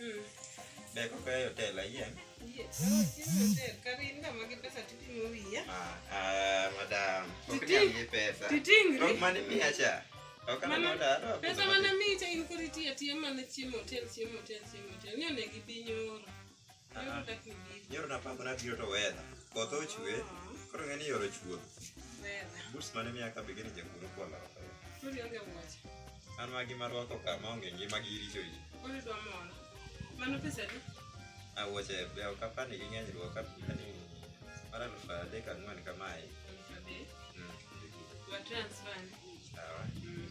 Mm. Be koko e hotel ayien? Yes. Hotel karin ka magi pesa tipimo wiya. Ah, ah, madam. Ok nyal gi pesa. Titingri. Rok mani miya cha. Ok na noda. Pesa mana miya cha in kori tiya tiya mana chiemo hotel chiemo hotel chiemo hotel. Ni onegi piny oro. Nyoro napango nabiro to weather. Koth ochwe, koro ng'e ni yoro chwo. Boots mane miya ka begini jaguro kwa loka. An magi marwako ka maonge ngima gi richo ji. Mano pesa di? Awoche be ok apani gi ng'eny ruok apani mar aluf adek ang'wen kamae. Mm. Wa transfer. Sawa. Mm.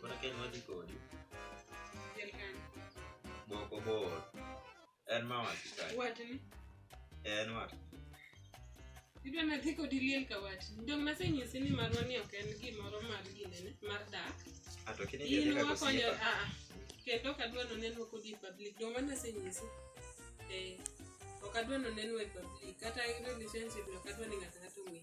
Koro kendo wadhi kodi. Boko bor. En ma wati kai. Watni. En wati. Idwa nadhi kodi liel ka watni. Dong nasenyisi ni marwa ni ok en gimoro mar ginene mar dak. Ato ah, kini gine kako siyepa. Ah, ah. Kendo kadwa no neno kodi public. Dong ma nasenyisi. Eh. Ok adwa no neno e public. Kata relationship no kadwa ni ng'ata ng'ata ong'e.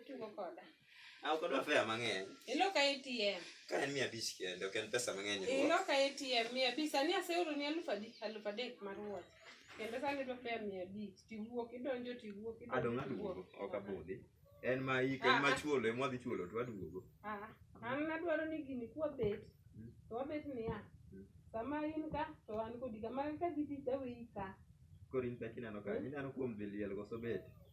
Itugo koda. Ah, ok odwa fea mang'eny. Ilo ka ATM. Ka en mia abich kende, ok en pesa mang'eny. Ilo ka ATM mia abich. Sani aseoro ni alufu adi, alufu adek mar wuoth. Kendo sani idwa fea mia abich. Tiwuok, idonjo, tiwuok, idonjo. Adong' aduogo, ok abudhi. En ma iko, en ma ah, ah. chuolo, en mwadhi chuolo, to aduogo. Ah, an nadwaro ni gini kwa bet, hmm. to wabet niya. Hmm. Sama in ka, to an kodi ka. Magi ka gidhi, to aweyi ka. Koro in pek ineno ka, hmm. ineno kuom dhi liel koso bet.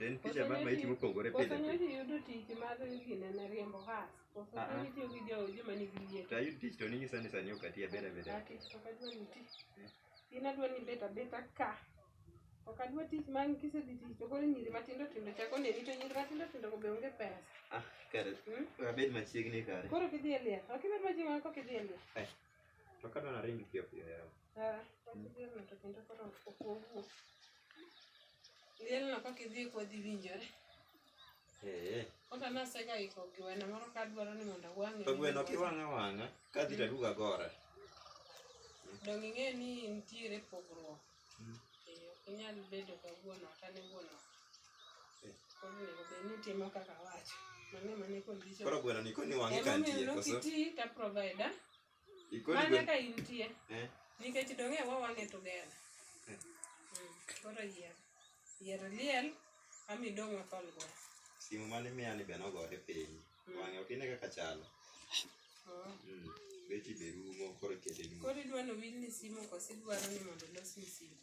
En picha mar maiti mopogore pile. Koso nyochi yudo tich mar gine ne riembo has. Koso ah, ah. itiyo gi jowo joma nigi yie. To ayud tich to ninyisa ni sani ok ati abeda beda. Ati ok adwa ni ti. Eh. In adwa ni beta beta ka. Ok adwa tich ma kisedhi tich to koro nyiri matindo tindo chako neni to nyiri matindo tindo go be onge pesa. Ah, kare. Hmm? Abed machiegni kare. Koro kidhi e liel. Ok ibed machiegni kok idhi e liel. Eh. Lielno kaka idhi kodhi winjore. Eh. Kaka nasega iko gweno moro ka adwaro ni mondo awang'e. To gweno kiwang'a wang'a kadhi to aduga gore. Donge ing'e ni nitiere pogruok ok inyal bedo ka wuon ot ane wuon ot eh. koro onego bed ni itimo kaka awacho mano ema ne condition koro gweno ni koni wang'i ka nitie koso ti ta provider mana ka intie eh. nikech dong' e wawang'e together eh. mm, koro yier yier liel ami dong' wathol gweno simu mane miya ni be nogore piny Wang'e ok ine kaka chalo. Oh. Mm. Beti be rumo koro kete rumo. Koro idwa ni owil ni simu koso idwaro ni mondo olos ni simu?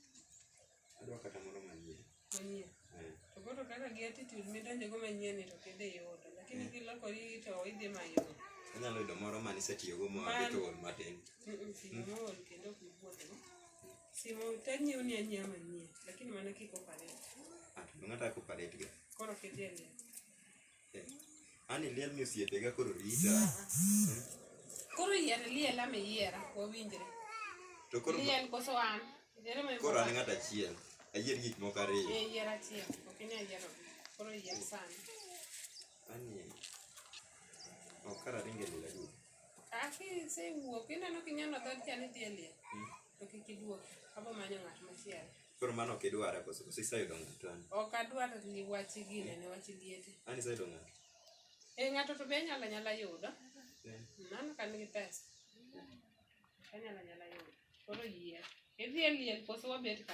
Adwa kata moro manyien. Manyien? Eh. To koro kaka gi attitude midonjo go manyien ni to kidhi yudo. Lakini eh. kilokori to idhi manyo. Anyalo yudo moro ma nisetiyogo ma keto ol matin. Simu mm. ol kendo ok ibuothgo. Simu to anyiew ni anyiew manyien lakini mana kik operate. Ah, ng'ato ok operate ga. Koro kidhi e Ani liel ni osiepega koro rita. Koro yier liel ama iyiera wawinjre. To koro Liel koso an. Yier ma koro an ng'at achiel. Ayier gik moko ariyo. Eh, yier achiel. Ok inyal yiero. Koro yier sana. Ani ok kara ringe lela duto. Aki sewuok ineno kinyalo dhodcha ni dhi e liel. to kik iduok abo manyo ng'at machielo koro mano ok idware koso koso iseyudo ng'ato an ok adwar li wach gine ne wach liete an iseyudo ng'ato e ng'ato to be anyala nyala yudo Eh, mano ka nigi pesa anyala nyala yudo koro yie idhi e liel koso wabet ka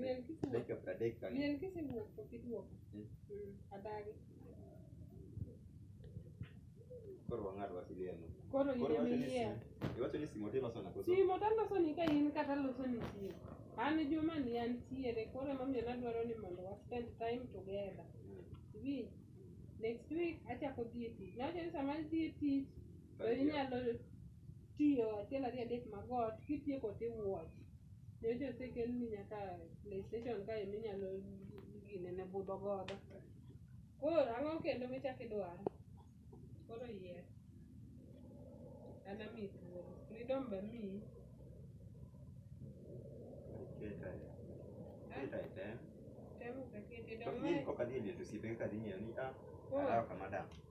Miel kisi dakika pradek kanyo. Miel kisi wuok to kiduoka. Mm. Mm. Adagi. Koro wang'ad wasi liel no. Koro Koro yie iwacho ni miyie. sim- iwacho ni simo tiloso na koso? Simo taloso ni ka in kata loso ni simo. An juma ni antiere koro emomiyo nadwaro ni mondo wa spend time together. Mm. Iwinj? Next week achako dhi e tich. Nawacho ni sama adhi e tich to Kar inyalo tiyo achiel ariyo adek mag ot kitieko to iwuoch. Nyocha osekelni nyaka play station kae minyalo ginene budho godo. Koro ang'o kendo michako idwaro? Koro yier. An ami thuolo. Freedom be amiyi. Tem useketo idong' mae. Koro.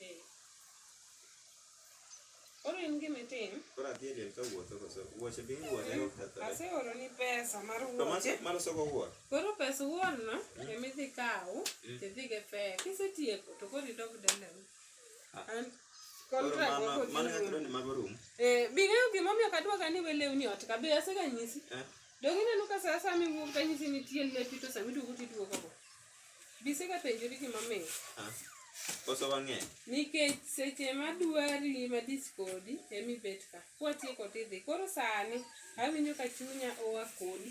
Eh. Koro in gima itim? Koro adhi e liel ka wuotho koso wuoche be iwuoche eh, okethore. Aseoro ni pesa mar wuoche. To mano soko wuoche. Koro pesa wuon no mm. ema idhi kaw mm. tidhi gi fare. Kisetieko to koro idog dala. Ah. An contract wako dhi. Mano kaka ni mago room. Eh, bing'eyo gima omiyo kadwa ka ni welewni ot ka be aseganyisi. Eh. Donge ineno ka saa saa miwuok kanyisi nitie lepi to sama iduogo tiduogo go. Bisega penjori gima mit. Koso wang'eny. Nikech seche madwari madis kodi emi bet ka. Kwatieko tidhi. Koro sani awinjo ka chunya oa kodi.